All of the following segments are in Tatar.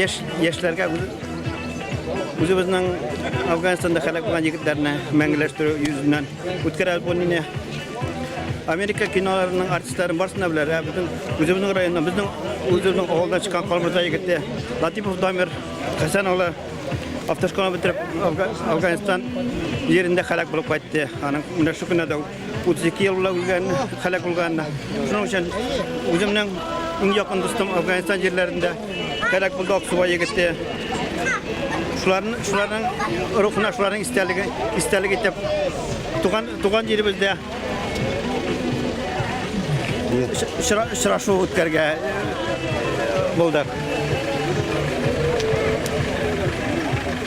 Яш яшьләргә үзебезнең Афганстанда һәлак булган егетләрне мәңгеләштерү йөзеннән үткәрә альбомны Америка киноларының артистларын барсына беләр. Ә безнең үзебезнең районнан, безнең үзебезнең авылдан чыккан Калмырза егете Латипов Дамир Хәсән улы автошкола бетереп Афганстан җирендә һәлак булып кайтты. Аның менә шу көннәрдә 32 ел белән үлгән, халәк булган. Шуның өчен үземнең иң якын дустым Афганстан җирләрендә халәк булды Аксубай егете. Шуларның шуларның рухына шуларның истәлеге истәлек итеп туган туган җиребездә очрашу үткәргә булдык.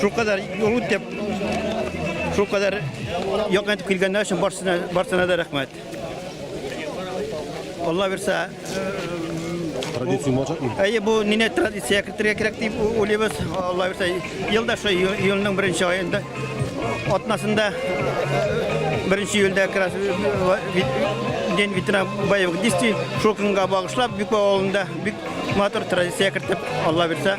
Шул кадәр юл үтеп, шул кадәр якын итеп килгәннәр өчен барсына, барсына да рәхмәт. Алла бирсә, Традиция булачак мы? Әйе, бу нине традиция кертергә кирәк дип у- уйлыйбыз. Алла бирсә, елда шул ел- елның беренче аенда атнасында э, беренче июльдә как раз э, ва- вит- день ветерана боевых действий шул көнгә багышлап Бикбау авылында бик матур традиция кертеп, Алла бирсә,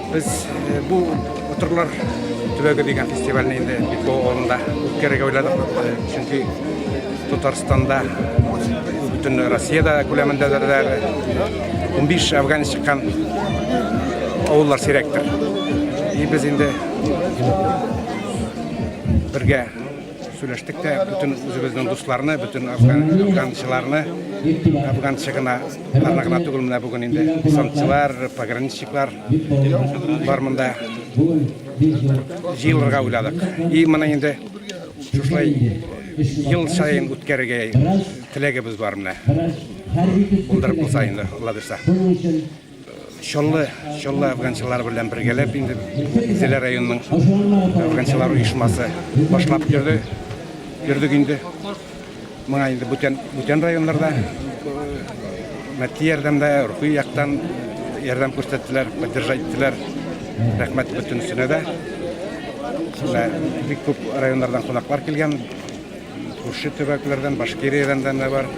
Без бу утырлар төбәге дигән фестивальне инде Битбо авылында үткәрергә уйладык. Чөнки Татарстанда бөтен Россиядә күләмендә дә 15 афган чыккан авыллар сирәктер. И без инде бергә Сөйләштек тә бөтен үзебезнең дусларны, бөтен афганчыларны, афганчы гына, аны гына түгел менә бүген инде десантчылар, пограничниклар бар монда. Җыелырга уйладык. И моны инде шушылай ел саен үткәрергә теләгебез бар менә. Булдырып булса инде, Алла бирса. Чаллы, Чаллы афганчылары белән бергәләп инде Зилә районының афганчылар оешмасы башлап йөрде. Йөрдек инде. Моңа инде бүтән, бүтән районнарда мәдди ярдәмдә, рухи яктан ярдәм күрсәттеләр, поддержать иттеләр. Рәхмәт бөтенесенә дә. Менә бик күп районнардан кунаклар килгән. Күрше төбәкләрдән, Башкириядән дә бар.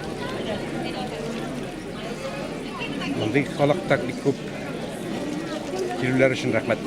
Мондый халык так бик күп. Килүләр өчен рәхмәт.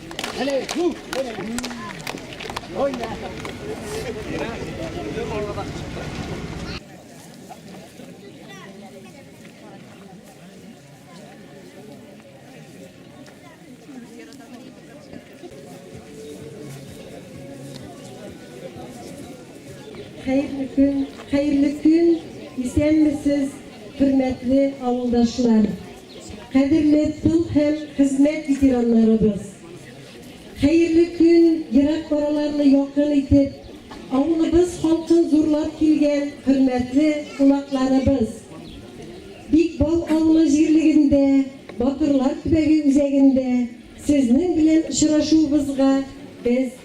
Хәерле көн, хәерле көн, исәнмесез, хөрмәтле авылдашлар. Кадерле тыл һәм хезмәт ветераннарыбыз! Хәерле көн, ерак араларны якын итеп, авылыбыз халкын зурлап килгән хөрмәтле кунакларыбыз! Бик Бал авылы җирлегендә, Батырлар төбәге үзәгендә сезнең белән очрашуыбызга без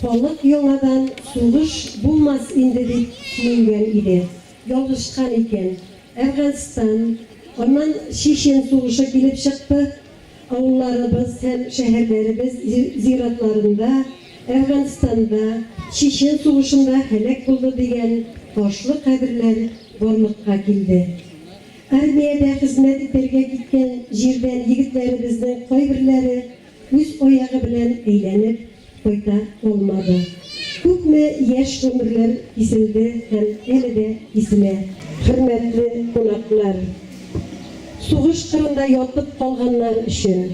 Халык яңадан сугыш булмас инде дип сөенгән иде. Ялгышкан икән. Әфганстан, аннан Чечен сугышы килеп чыкты. Авылларыбыз һәм шәһәрләребез зиратларында Әфганстанда, Чечен сугышында һәлак булды дигән ташлы каберләр барлыкка килде. Армиядә хезмәт итәргә киткән җирдән егетләребезнең кайберләре Үз аягы белән әйләнеп кайта алмады. Күпме яшь гомерләр киселде һәм әле дә киселә. Хөрмәтле кунаклар! Сугыш кырында ятып калганнар өчен,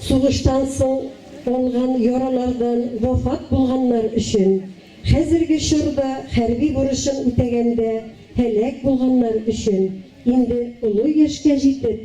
сугыштан соң алган яралардан вафат булганнар өчен, хәзерге чорда хәрби бурычын үтәгәндә һәлак булганнар өчен, инде олы яшькә җитеп,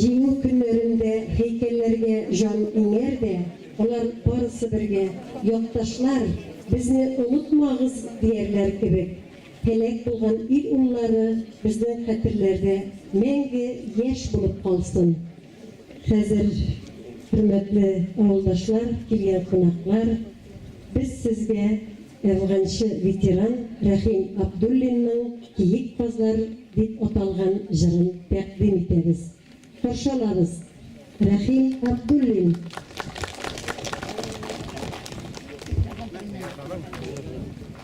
Җиңү көннәрендә һәйкәлләргә җан иңәр дә, алар барысы бергә, якташлар, безне онытмагыз, диярләр кебек. Һәлак булган ил уллары безнең хәтерләрдә мәңге яшь булып калсын. Хәзер, хөрмәтле авылдашлар, килгән кунаклар, без сезгә әфганчы ветеран Рәхим Абдуллинның Киек казлар дип аталган җырын тәкъдим итәбез. Каршы алабыз! Рәхим Абдуллин!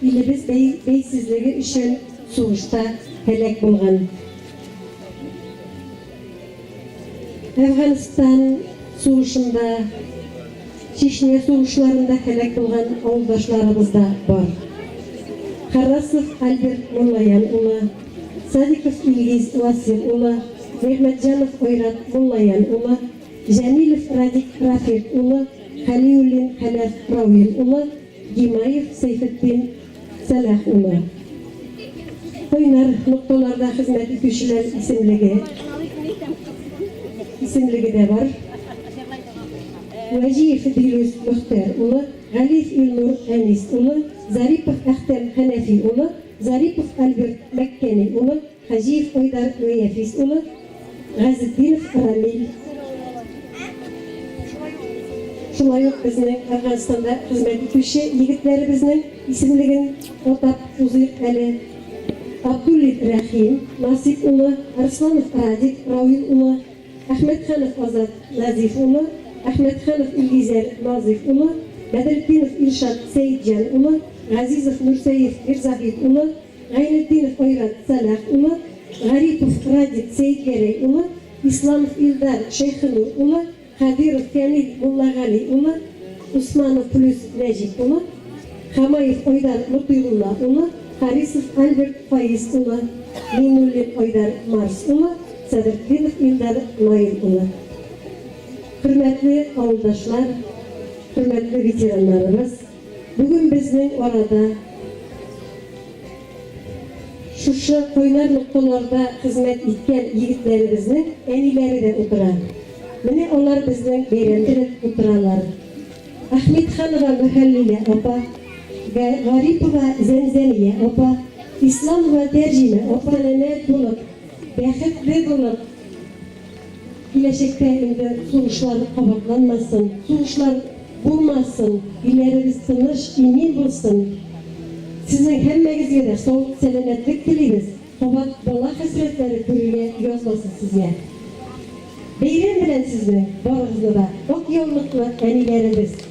Илебез бәйсезлеге өчен сугышта һәлак булган. Әфганстан сугышында, Чечня сугышларында һәлак булган авылдашларыбыз да бар. Харрасов Альберт Муллаян улы, Садиков Илгиз Васил улы, Нигъмәтҗанов Ойрат Муллаян улы, Җәмилев Радик Рафик улы, Хәлиуллин Хәләф Равил улы, Гимаев Сәйфетдин Сәлах улы. Кайнар нокталарда хезмәт итүчеләр исемлеге исемлеге дә бар. Вәҗиев Дилүс Мөхтәр улы, Галиф Илнур Әнис улы, Зарипов Әхтәм Хәнәфи улы, Зарипов Альберт Мәккәни улы, Хаҗиев Айдар Гыйяфис улы, Газетдинов Рамил. Шулай ук безнең Әфганстанда хезмәт итүче егетләребезнең исемлеген атап узыйк әле. Абдуллин Рәхим Насыйп улы, Арсланов Радик Равил улы, Әхмәтханов Азат Назиф улы, Әхмәтханов Илгизәр Назыйф улы, Бәдретдинов Илшат Сәетҗан улы, Газизов Нурсәет Мирзаһит улы, Гайнетдинов Айрат Сәлах улы, Гарипов Радик Сәетгәрәй улы, Исламов Илдар Шәйхенур улы, Хәбиров Фәнил Муллагали улы, Усманов Плюс Нәҗип улы, Хамаев Айдар Мотыйгулла улы, Харисов Альберт Фаиз улы, Миңнуллин Айдар Марс улы, Сәдретдинов Илдар Наил улы. Хөрмәтле авылдашлар, хөрмәтле ветераннарыбыз! Бүген безнең арада, шушы кайнар нокталарда хезмәт иткән егетләребезнең әниләре дә утыра. Менә алар безнең бәйрәм теләп утыралар. Әхмитханова Мөхәллилә апа, Гарипова Зәмзәмия апа, Исламова Тәрҗимә апа. Сәламәт булып, бәхетле булып. Киләчәктә инде сугышлар кабатланмасын, сугышлар булмасын, илләребез тыныч, имин булсын. Сезнең һәммәгезгә дә саулык, сәламәтлек телибез, кабат бала хәсрәтләре күрергә язмасын сезгә. Бәйрәм белән сезне барыгызны да, ак яулыклы әниләребез!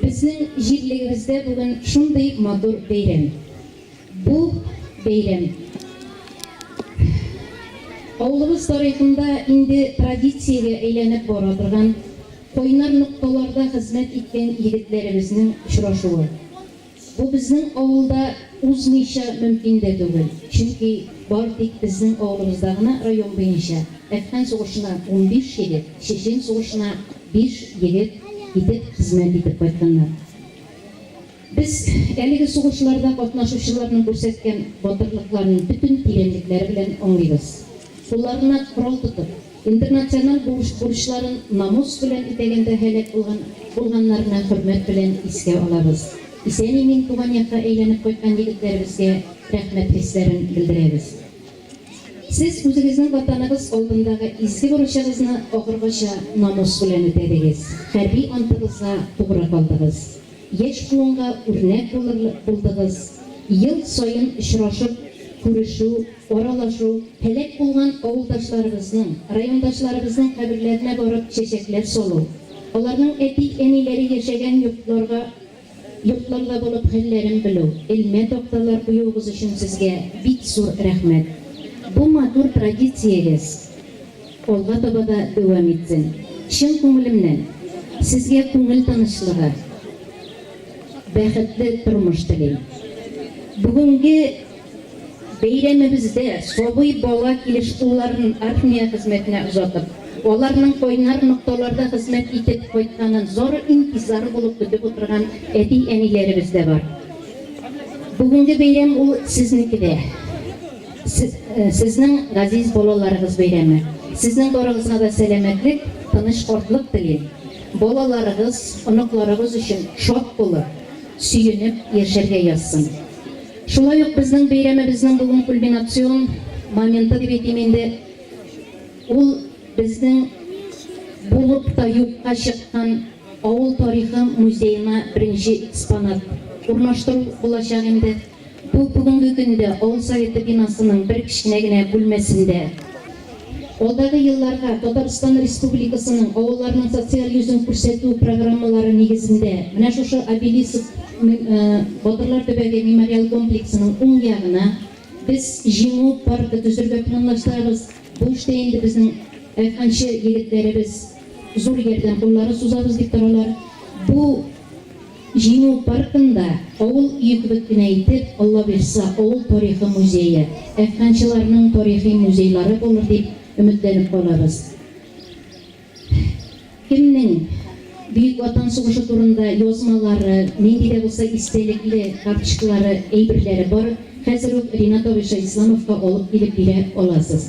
Безнең җирлегебездә бүген шундый матур бәйрәм. Бу бәйрәм авылыбыз тарихында инде традициягә әйләнеп бара торган, кайнар нокталарда хезмәт иткән егетләребезнең очрашуы. Бу безнең авылда узмыйча мөмкин дә түгел, чөнки бары тик безнең авылыбызда гына район буенча әфган сугышына унбиш егет, чечен сугышына биш егет китеп хезмәт итеп кайтканнар. Без әлеге сугышларда катнашучыларның күрсәткән батырлыкларын бөтен тирәнлекләре белән аңлыйбыз. Кулларына корал тотып, Интернациональ бурыч-бурычларын намус белән үтәгәндә һәлак булган булганнарны хөрмәт белән искә алабыз. Исән-имин туган якка әйләнеп кайткан егетләребезгә рәхмәт хисләрен белдерәбез. Сез үзегезнең Ватаныгыз алдындагы изге бурычыгызны ахыргача намус белән үтәдегез, хәрби антыгызга тугры калдыгыз. яшь буынга үрнәк булырлык булдыгыз. Ел саен очрашып, күрешү, аралашу, һәлак булган авылдашларыбызның, райондашларыбызның каберләренә барып чәчәкләр салу, аларның әти-әниләре яшәгән йортларга йортларда булып хәлләрен белү, элмә такталар куюыгыз өчен сезгә бик зур рәхмәт. Бу матур традициягез. Алга таба да дәвам итсен. Чын күңелемнән Сезгә күңел тынычлыгы, бәхетле тормыш телим. Бүгенге бәйрәмебездә сабый бала килеш улларын армия хезмәтенә озатып, аларның кайнар нокталарда хезмәт итеп кайтканын зары интизар булып көтеп утырган әти-әниләребез дә бар. Бүгенге бәйрәм ул сезнеке дә. Сезнең газиз балаларыгыз бәйрәме. Сезнең барыгызга да сәламәтлек, тыныч картлык телим. Балаларыгыз, оныкларыгыз өчен шат булып, сөенеп яшәргә язсын. Шулай ук безнең бәйрәмебезнең бүген кульминацион моменты дип әйтим инде, ул безнең булып та юкка чыккан авыл тарихы музеена беренче экспонат урнаштыру булачак инде. Ул бүгенге көндә авыл Советы бинасының бер кечкенә генә бүлмәсендә. Алдагы елларга Татарстан Республикасының авылларының социаль йөзен күрсәтү программалары нигезендә менә шушы обелиск Батырлар төбәге мемориал комплексының уң ягына без Җиңү паркы төзергә планлаштырабыз. Бу эштә инде безнең Әфганчы егетләребез зур ярдәм куллары сузабыз дип торалар. Бу. Җиңү паркында авыл өе кебек кенә итеп Аллабирса авыл тарихы музее, әфганчыларның тарихи музейлары булыр дип өметләнеп калабыз. Кемнең Бөек Ватан сугышы турында язмалары, нинди дә булса истәлекле карточкалары, әйберләре бар, хәзер үк Ринат абыйча Исламовка алып килеп бирә аласыз.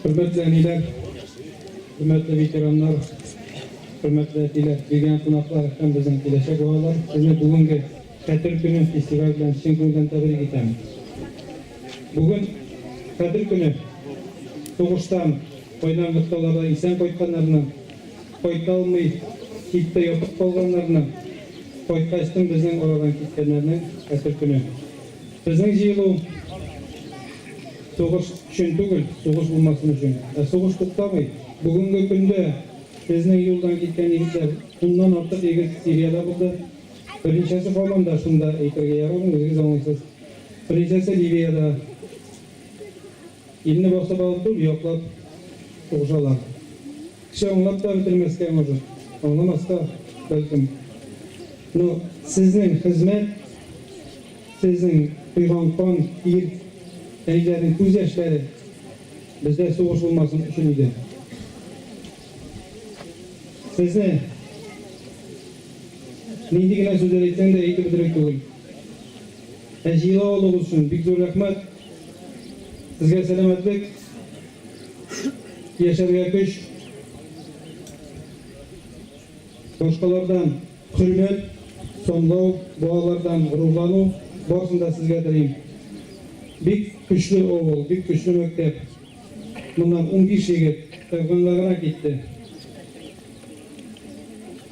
Хөрмәтле әниләр, хөрмәтле ветераннар, хөрмәтле әтиләр, килгән кунаклар һәм безнең киләчәк балалар, сезне бүгенге Хәтер көне фестиваль белән чын күңелдән тәбрик итәм. Бүген Хәтер көне сугыштан, кайнар нокталарда исән кайтканнарны, кайта алмый, читтә ятып калганнарны, кайткачтын безнең арадан киткәннәрнең Хәтер көне. Безнең җыелу сугыш өчен түгел, сугыш булмасын өчен. Ә сугыш туктамый. Бүгенге көндә безнең юлдан киткән егетләр, уннан артык егет Сириядә булды. Берничәсе һаман да шунда, әйтергә ярамый, үзегез аңлыйсыз. Берничәсе Ливиядә. Илне басып алып түгел, яклап угжалар. Кеше аңлап та бетермәскә может, аңламас та, бәлкем. Но сезнең хезмәт, сезнең койган кан, ир, әниләрнең күз яшьләре бездә сугыш булмасын өчен иде. Сезне нинди генә сүзләр әйтсәң дә әйтеп бетерерлек түгел. Ә җыела алуыгыз өчен бик зур рәхмәт. Сезгә сәламәтлек, яшәргә көч, башкалардан хөрмәт, санлау, балалардан горурлану, барысын да сезгә телим. Бик көчле авыл, бик көчле мәктәп. Моннан унбиш егет Әфганга гына китте.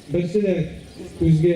Берсе дә күзгә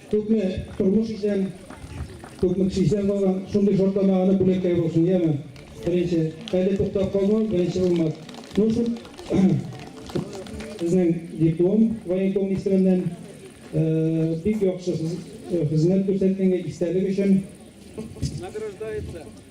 Күпме тормыш исән, күпме кеше исән калган, шундый шартлама аны бүләккә булсын, яме? Беренче, әле туктап калмау беренче булмас. Ну шул сезнең диплом военком исеменнән бик яхшы хезмәт күрсәткәнгә истәлек өчен. Награждается.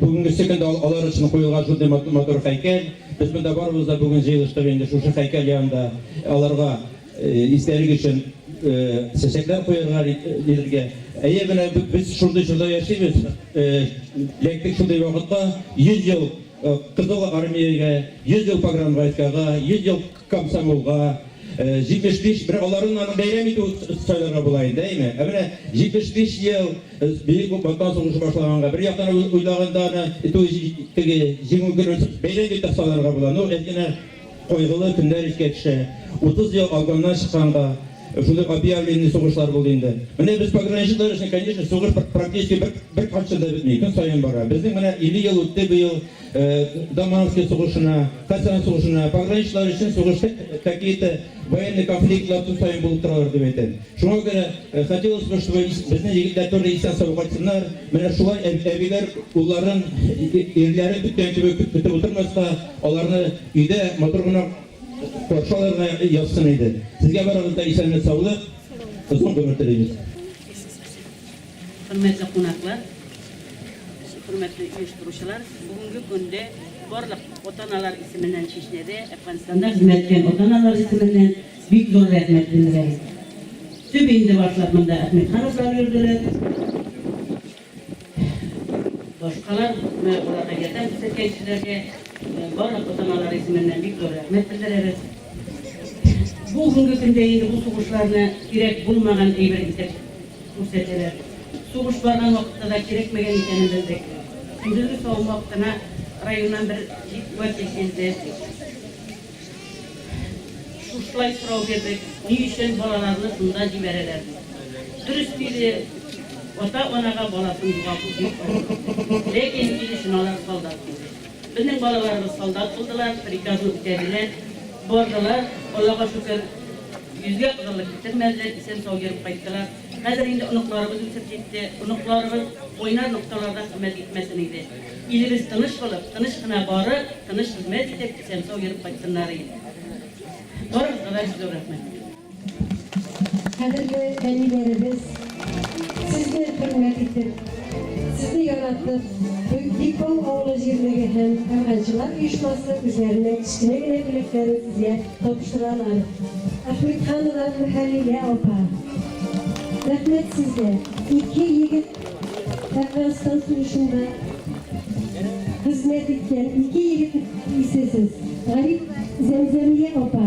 Бүгенгесе көндә алар өчен куелган шундый матур һәйкәл. Без монда барыбыз да бүген җыелыштык инде шушы һәйкәл янында аларга истәлек өчен чәчәкләр куярга диләргә. Әйе, менә без шундый чорда яшибез. Ләкин шундый вакытта 100 ел Кызыл Армиягә, 100 ел погранвойскага, 100 ел Комсомолга 75, бер аларны аны бәйрәм итү сайларга була инде, әйме? Ә менә 75 ел Бөек Ватан сугышы башлаганга, бер яктан уйлаганда аны итү теге җиңү көнен бәйрәм дип тә сайларга була. Ну, әзгенә кайгылы көннәр искә төшә. 30 ел алганнан чыкканга шундый объявленный сугышлар булды инде. Менә без пограничниклар өчен, конечно, сугыш практически бер бер качан да бетми, көн саен бара. Безнең менә 50 ел үтте быел. Даманский сугышына, Кассиан сугышына, пограничнлар өчен сугышта какие-то военный конфликтлар көн саен булып торалар дип әйтәм. Шуңа күрә хотелось бы, чтобы безнең егетләр тоже исән-сау кайтсыннар. Менә шулай әбиләр улларын, ирләрен көткән кебек көтеп утырмаска, аларны өйдә матур гына каршы алырга язсын иде. Сезгә барыгызга исәнлек-саулык, озын гомер телибез. Хөрмәтле кунаклар, хөрмәтле оештыручылар, бүгенге көндә барлык ата-аналар исеменнән Чечняда, Әфганстанда хезмәт иткән ата-аналар исеменнән бик зур рәхмәт белдерәбез. Төп инде башлап монда Әхмәтхановлар йөрделәр. Башкалар менә аларга ярдәм күрсәткән кешеләргә барлык ата-аналар исеменнән бик зур рәхмәт белдерәбез. Бүгенге көндә инде бу сугышларны кирәк булмаган әйбер итеп Күрсәтәләр. Сугыш барган вакытта да кирәкмәгән икәнен белдек. Көндезге савым вакытына районнан бер җик вәкил килде. Шушылай сорау бирдек, ни өчен балаларны шунда җибәрәләр? Дөрес диде, ата-анага баласын югалту бик авыр. Ләкин килешен алар солдат диде. Безнең балаларыбыз солдат булдылар, приказны үтәделәр, бардылар, Аллага шөкер, йөзгә кадалып китермәделәр, исән-сау йөреп кайттылар. Хәзер инде оныкларыбыз үсеп җитте, оныкларыбыз уйнар нокталарда хезмәт итмәсен иде. Илебез тыныч булып, тыныч кына барып, тыныч хезмәт итеп, исән-сау йөреп кайтсыннар иде. Барыгызга да зур рәхмәт. Кадерле әниләребез, сезне хөрмәт итеп, сезне яратып, Бикбал авылы җирлеге һәм Кәрганчылар оешмасы үзләренә кечкенә генә бүләкләрен сезгә тапшыралар. Әхмәтханова Мөхәлилә апа, рәхмәт сезгә. Ике егет Әфганстан сугышында хезмәт иткән, ике егет исесез. Гариф Зәмзәмия апа,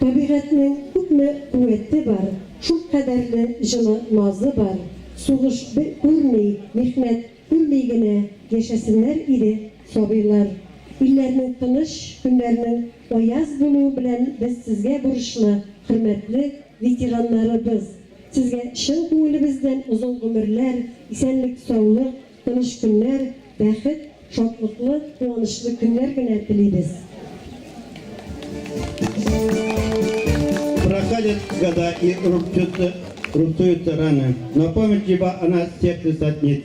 Табигатьнең күпме куәте бар, шул кадәрле җылы назы бар, сугыш күрми, михнәт күрми генә яшәсеннәр иде. Сабыйлар, илләрнең тыныч, көннәрнең аяз булуы белән без сезгә бурычлы, хөрмәтле ветераннарыбыз! Сезгә чын күңелебездән озын гомерләр, исәнлек-саулык, тыныч көннәр, бәхет, шатлыклы, куанычлы көннәр генә телибез! Проходят года и рубцуются раны, но память либо она сердце саднит,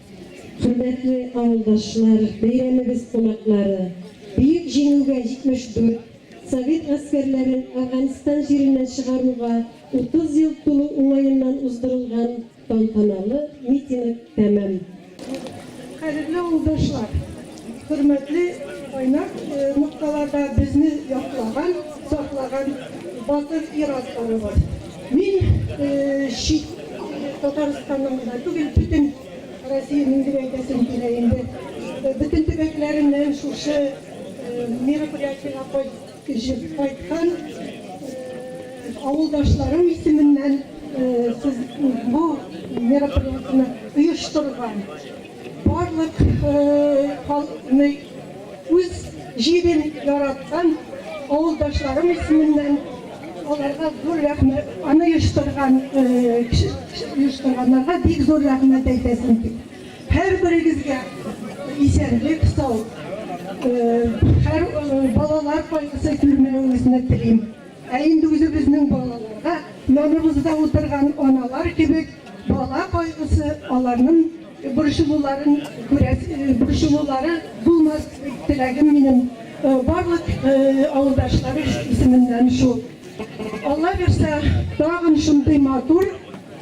Хөрмәтле авылдашлар, бәйрәмебез кунаклары, Бөек Җиңүгә 74 Совет гаскәрләрен Әфганстан җиреннән чыгаруга 30 ел тулу уңаеннан уздырылган тантаналы митинг тәмам. Кадерле авылдашлар! Хөрмәтле кайнар нокталарда безне яклаган, саклаган батыр ир-атларыбыз! Мин чит ил, Татарстанның гына түгел, бөтен Россиянең дип әйтәсем килә инде, бөтен төбәкләреннән шушы мероприятиегә кайткан авылдашларым исеменнән сез бу мероприятиене оештырган Барлык халыкны үз җирен яраткан авылдашларым исеменнән аларга зур рәхмәт, аны оештырган оештырганнарга бик зур рәхмәт әйтәсем килә. Һәрберегезгә исәнлек, сау, һәр балалар кайгысы күрмәвегезне телим. Ә инде үзебезнең балаларга яныбызда утырган аналар кебек бала кайгысы, аларның борчылуларын күрәс, борчылулары булмас теләгем минем барлык авылдашлары исеменнән шул. Алла бирсә, тагын шундый матур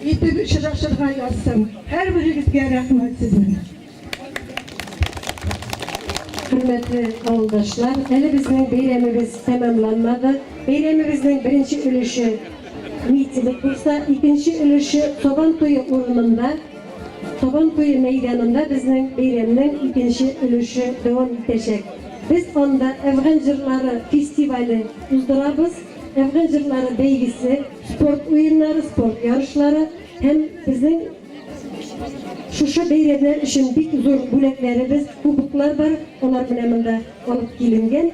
итеп очрашырга язсын. Һәрберегезгә рәхмәт сезнең. Хөрмәтле авылдашлар, әле безнең бәйрәмебез тәмамланмады. Бәйрәмебезнең беренче өлеше митинг булса, икенче өлеше Табан туе урынында, Табан туе мәйданында безнең бәйрәмнең икенче өлеше дәвам итәчәк. Без анда Әфган җырлары фестивале уздырабыз. Әфган җырлары бәйгесе, спорт уеннары, спорт ярышлары һәм безнең Шушы бәйрәмнәр өчен бик зур бүләкләребез, кубоклар бар, алар менә монда алып киленгән.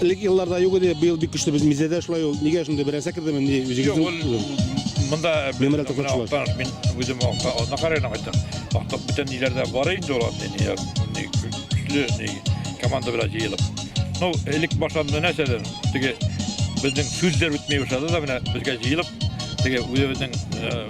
Элек елларда юк иде, быел бик көчле без мизәдә шулай ул. Нигә шундый берәсә кердеме ни Юк, ул үзегезнең монда Мемориал тотып шулай. Актан, мин үзем акта, ана карайна кайтам. Акта бүтән ниләрдә бар инде ул анда ни яр- ни көчле ни команда белән җыелып. Ну, элек башланды нәрсәдән? Теге безнең сүзләр үтми башлады да менә безгә җыелып, теге үзебезнең э,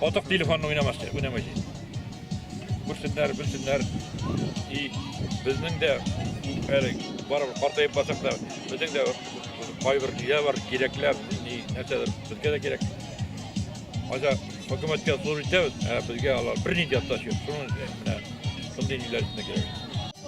Отык телефонны уйнамашы, уйнамашы. Күрсеннәр, белсеннәр. И безнең дә әле барып картайып басып та, безнең дә кайбер ниләр бар, кирәкләр, ни нәрсәдер безгә дә кирәк. Аҗа хөкүмәткә зур итәбез, ә безгә алар бернинди атташ юк. Шуның менә шундый ниләр кирәк.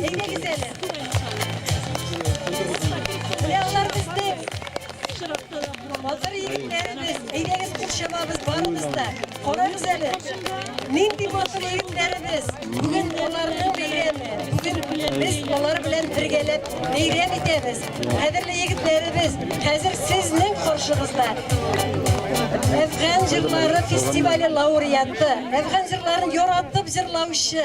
Әйдәгез әле. Ягылар безне. Батыр егетләребез, әйдәгез курчабабыз барыбыз да. Карагыз әле. Нинди батыр егетләребез. Бүген аларның бәйрәме. Бүген без алар белән бергәләп бәйрәм итәбез. Кадерле егетләребез, хәзер сезнең каршыгызда Әфган җырлары фестивале лауреаты, Әфган җырларын яратып җырлаучы